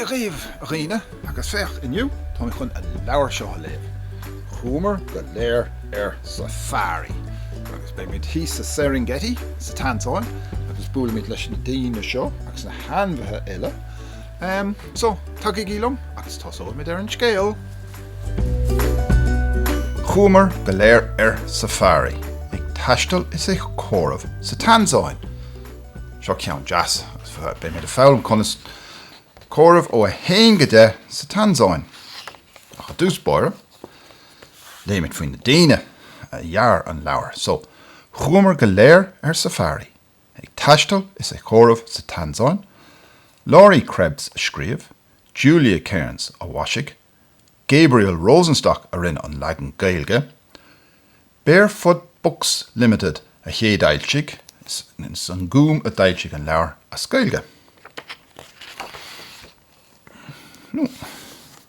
Dia dhaoibh a dhaoine agus féach inniu tá mé chun an leabhar seo a léamh. Chuamar go léir ar safari agus beimid thíos sa Serengeti sa Tansáin agus buailfimid leis na daoine seo agus na hainmhithe eile Ehm, so, tagaigí liom agus tosóimid ar an scéal! Chuamar go léir ar safari, ag taisteal is ag comhaireamh sa Tansáin. Seo ceann deas, agus beimid ag foghlaim conas comhaireamh ó 1 go 10 sa Tansáin. Ach i dtús báire, léimid faoi na daoine a dhear an leabhar. So, chuamar go léir ar safari, Ag taisteal is ag comhaireamh sa Tansáin, Laurie Krebs a scríobh, Julia Cairns a mhaisigh, Gabriel Rosenstock a rinne an leagan Gaeilge, Barefoot Books Limited a chéadfhoilsigh, is An Gúm a d'fhoilsigh an leabhar as Gaeilge.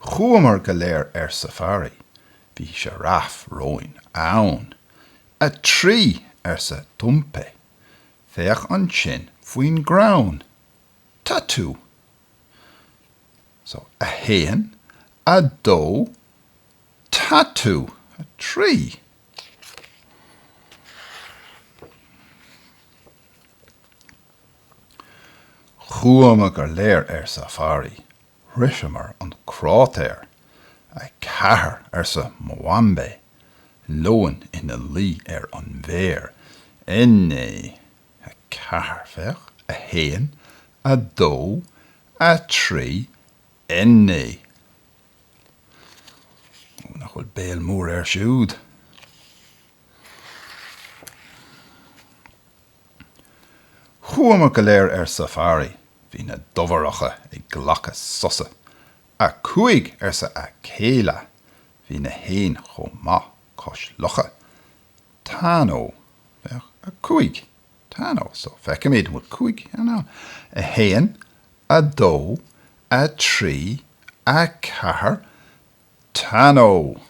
Chuamar go léir ar safari. Bhí sioráif romhainn ann. 3! arsa Tumpe. Féach ansin faoin gcrann. Tatu! So, 1, 2, Tatu! 3! Chuamar go léir ar safari. Shroicheamar an cráitéar. A Ceathair, arsa Mwambe, leoin ina luí ar an bhféar. Nne, a ceathair, féach, a haon, a dó, a trí, Nne. Ó, nach bhfuil béal mór air siúd! Chuamar go léir ar safari, bhí na dobhareacha ag glacadh sosa. 'A Cúig! arsa Akeyla. Bhí na héin chomh maith cois locha. 'Tano, féach, a Cúig. Tano, so, feicimid, an bhfuil cúig éan ann? 'A hAon, a Dó, a Trí, a Ceathair, Tano.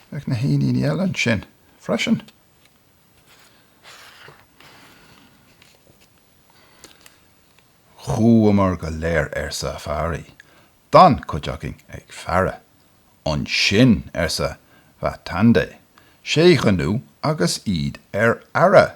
Féach na héiníní eile ansin freisin. Chuamar go léir ar safari. D'fhan cuid againn ag faire. Ansin, arsa Watende, sé ghnú agus iad ar aire.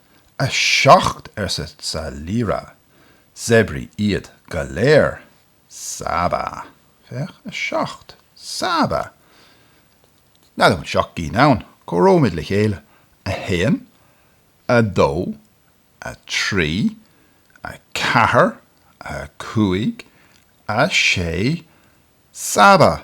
'A seacht, arsa Zalira, 'Séabraí iad go léir. Saba. Féach, 'A seacht. Saba. N'fheadar an bhfuil seacht gcinn ann. Comhaireoimid le chéile. 'A haon. 'A dó. 'A trí. 'A ceathair. 'A cúig. 'A sé. Saba.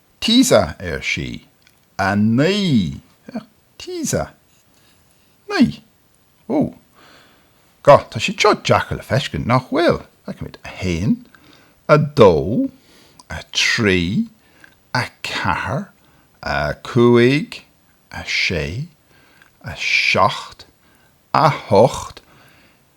Tisa, ar sí. A Naoi. Tisa. Naoi. Ó. Ga, tá siad seo deacair le feiscint, nach bhfuil? Feicimid. A hAon, a Dó, a Trí, a Ceathair, a Cúig, a Sé, a Seacht, a hOcht,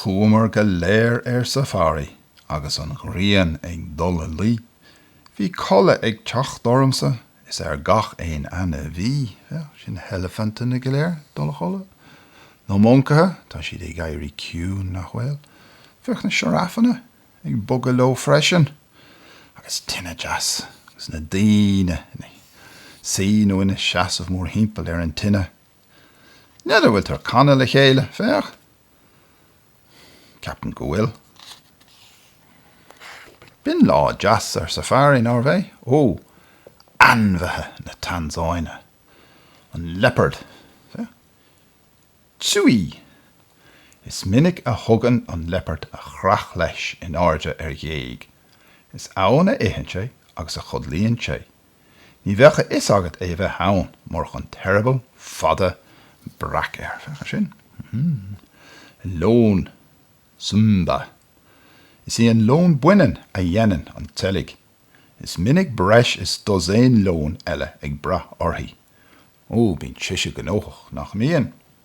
Chuamar go léir ar safari agus an ghrian ag dul a luí, bhí codladh ag teacht ormsa is ar gach aon ainmhí, féach, sin na heilifinteanna go léir ag dul a chodladh, na moncaithe, tá siad ag éirí ciúin, nach bhfuil, féach na sioráfanna ag bogadh leo freisin, agus tine deas, agus na daoine ina suí nó ina seasamh mórthimpeall ar an tine. N'fheadar an bhfuiltear ag canadh le chéile, féach. Ceapaim go bhfuil. B'in lá deas ar safari, nárbh ea? Ó, ainmhithe na Tansáine. An liopard, féach. Chui! Is minic a thugann an liopard a chreach leis in airde ar ghéag. Is ann a itheann sé agus a chodlaíonn sé. Ní bheadh a fhios agat é a bheith ann, murach an t-eireaball fada breac air. Féach air sin. An leon Simba. Is í an leon baineann a dhéanann an tseilg. Is minic breis is dosaen leon eile ag brath uirthi. Ó, bíonn sise gnóthach, nach mbíonn?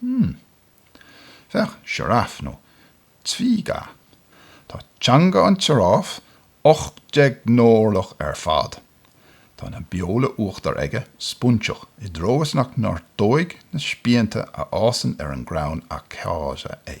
Hm. Féach, sioráf nó twiga. Tá teanga an tsioráif ocht déag n-orlach ar fad. Tá na beola uachtair aige, spúinseach, i dtreo is nach ngortóidh na spíonta a fhásann ar an gcrann acacia é.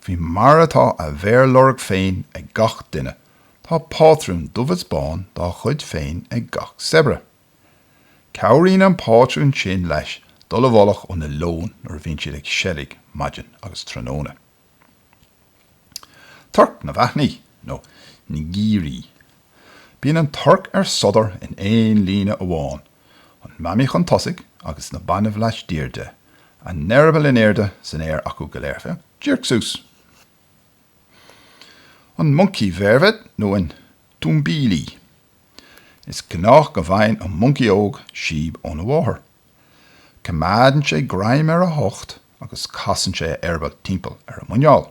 Faoi mar atá a mhéarlorg féin ag gach duine, tá pátrún dubh is bán dá chuid féin ag gach séabra. Cabhraíonn an pátrún sin leis dul i bhfolach ó na leoin nuair a bhíonn siad ag seilg maidin agus tráthnóna. Torc na bhfaithní, nó ngiri. Bíonn an torc ar sodar in aon líne amháin, an mamaí chun tosaigh agus na bainbh laistiar de, a n-eireaball in airde san aer acu go léir, féach díreach suas. An moncaí vervet nó an tumbili. Is gnách go bhfaigheann an moncaí óg síob óna mháthair. Coimeádann sé greim ar a hucht agus casann sé a eireaball timpeall ar a muineál.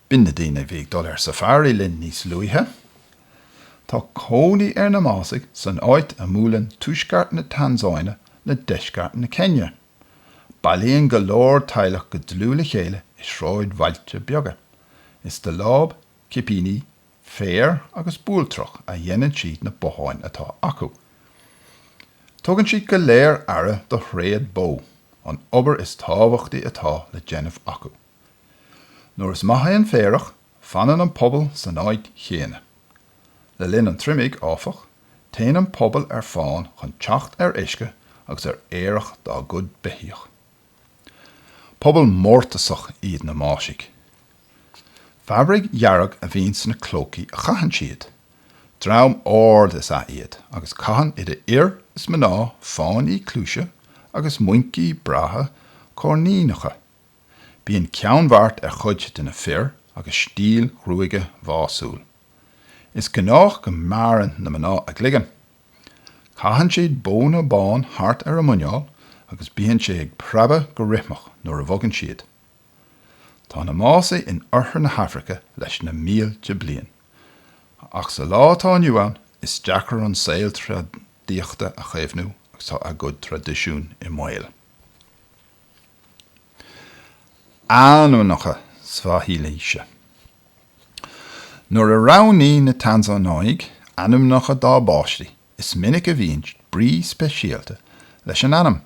B'in na daoine a bhí ag dul ar safari linn níos luaithe. Tá cónaí ar na Másaigh san áit a mbuaileann tuaisceart na Tansáine le deisceart na Céinia. Bailíonn go leor teaghlach go dlúth le chéile i sráidbhailte beaga. Is de láib, cipíní, féar agus bualtrach a dhéanann siad na botháin atá acu. Tugann siad go léir aire do thréad bó, an obair is tábhachtaí atá le déanamh acu. Nuair is maith é an féarach, fanann an pobal san áit chéanna. Le linn an triomaigh, áfach, téann an pobal ar fán chun teacht ar uisce agus ar fhéarach dá gcuid beithíoch. Pobal mórtasach iad na Másaigh. Fabraic dhearg a bhíonn sna clócaí a chaitheann siad. Dream ard is ea iad agus caitheann idir fhir is mná fáinní cluaise agus muincí breátha coirníneacha. Bíonn ceannbheart ar chuid de na fir agus stíl ghruaige mhaisiúil. Is gnách go mbearrann na mná a gcloigeann. Caitheann siad bóna bán thart ar a muineál agus bíonn sé ag preabadh go rithmeach nuair a bhogann siad. Tá na Másaigh in oirthear na hAfraice leis na mílte bliain. Ach sa lá atá inniu ann, is deacair an saol tréadaíochta a chaomhnú agus tá a gcuid traidisiún i mbaol. Ainmneacha Svahaílise. Nuair a roghnaíonn na Tansánaigh ainmneacha dá bpáistí, is minic a bhíonn brí speisialta leis an ainm.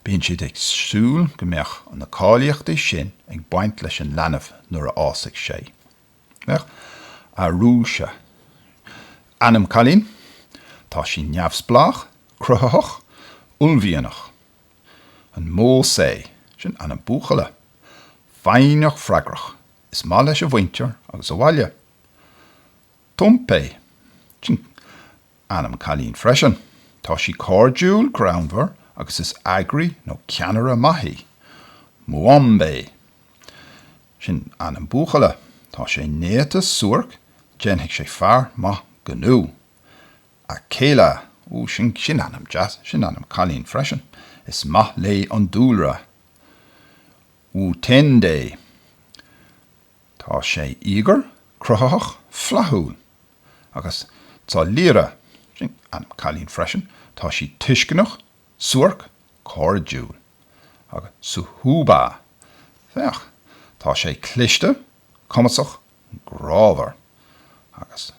Bíonn siad ag súil go mbeadh na cáilíochtaí sin ag baint leis an leanbh nuair a fhásfaidh sé. Féach Arusha. Ainm cailín, tá sí neamhspleách, cruthaitheach, uaillmhianach. An Mosi, sin ainm buachalla, foighneach freagrach, is maith leis a mhuintir agus a bhaile. Tumpe, sin ainm cailín freisin, tá sí cairdiúil, greannmhar agus is eagraí nó ceannaire maith í. Mwambe, sin ainm buachalla, tá sé néata, suairc, déanfaidh sé fear maith gnó. A chéile! Ó, sin ainm deas, sin ainm cailín freisin. Is maith léi an dúlra. Wu Tiande. Tá sé íogair, cruthaitheach, flaithiúil. Agus Salira, sin ainm cailín freisin, tá sí tuisceanach, suairc, cairdiúil. Agus Suhuba. Féach, tá sé cliste, cumasach, grámhar. Agus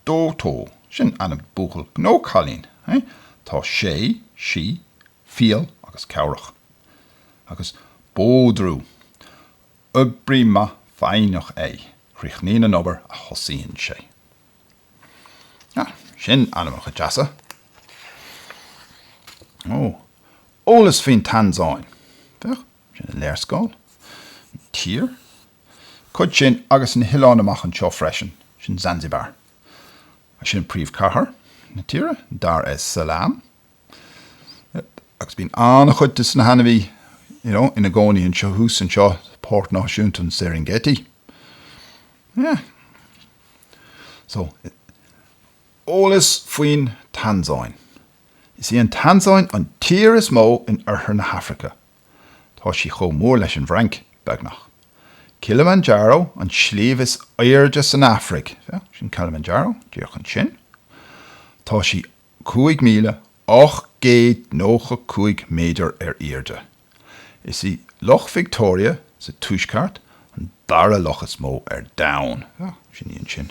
Doto, sin ainm buachaill nó cailín é, tá sé, sí, fial agus cabhrach. Agus Badru. Oibrí maith foighneach é, críochnaíonn an obair a thosaíonn sé. Ah, sin ainmneacha deasa. Ó, eolas faoin Tansáin. Féach. Sin an léarscáil. An tír. Cuid sin agus na hoileáin amach anseo freisin. Sin Zanzibar. Sin príomhcathair na tíre, Dar es Salaam. Agus bíonn an-chuid de na hainmhithe, you know, ina gcónaí thuas anseo, Páirc Náisiúnta an Serengeti. Yeah. So, eolas faoin Tansáin. Is í an Tansáin an tír is mó in oirthear na hAfraice. Tá sí chomh mór leis an bhFrainc, beagnach. Kilimanjaro, an sliabh is airde san Afraic, féach, sin Kilimanjaro, díreach ansin. Tá sí 5,895 méadar ar airde. Is í Loch Victoria, sa tuaisceart, an dara loch is mó ar domhan, féach, sin í ansin.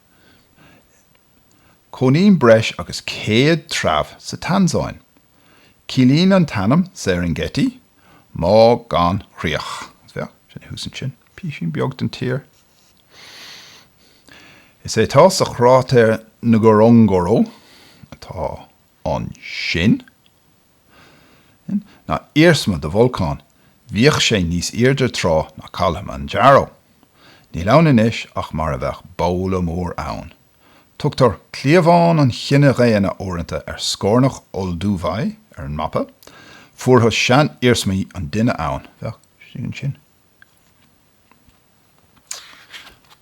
Cónaíonn breis agus céad treabh sa Tansáin. Ciallaíonn an t-ainm Serengeti má gan chríoch. Féach, sin é thuas ansin. Pisín beag den tír is ea tá sa chráitéar Ngorongoro atá ansin. sin, ná iarsma de bholcán, bhíodh sé níos airde tráth ná Kilimanjaro. Níl ann anois ach mar a bheadh babhla mór ann. Tugtar cliabhán an chine dhaonna uaireanta ar scornach Olduvai ar an mapa, fuarthas seaniarsmaí an duine ann, féach ansin.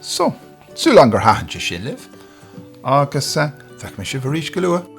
So, súil agam gur thaitin sé sin libh, agus feicfidh mé sibh arís go luath.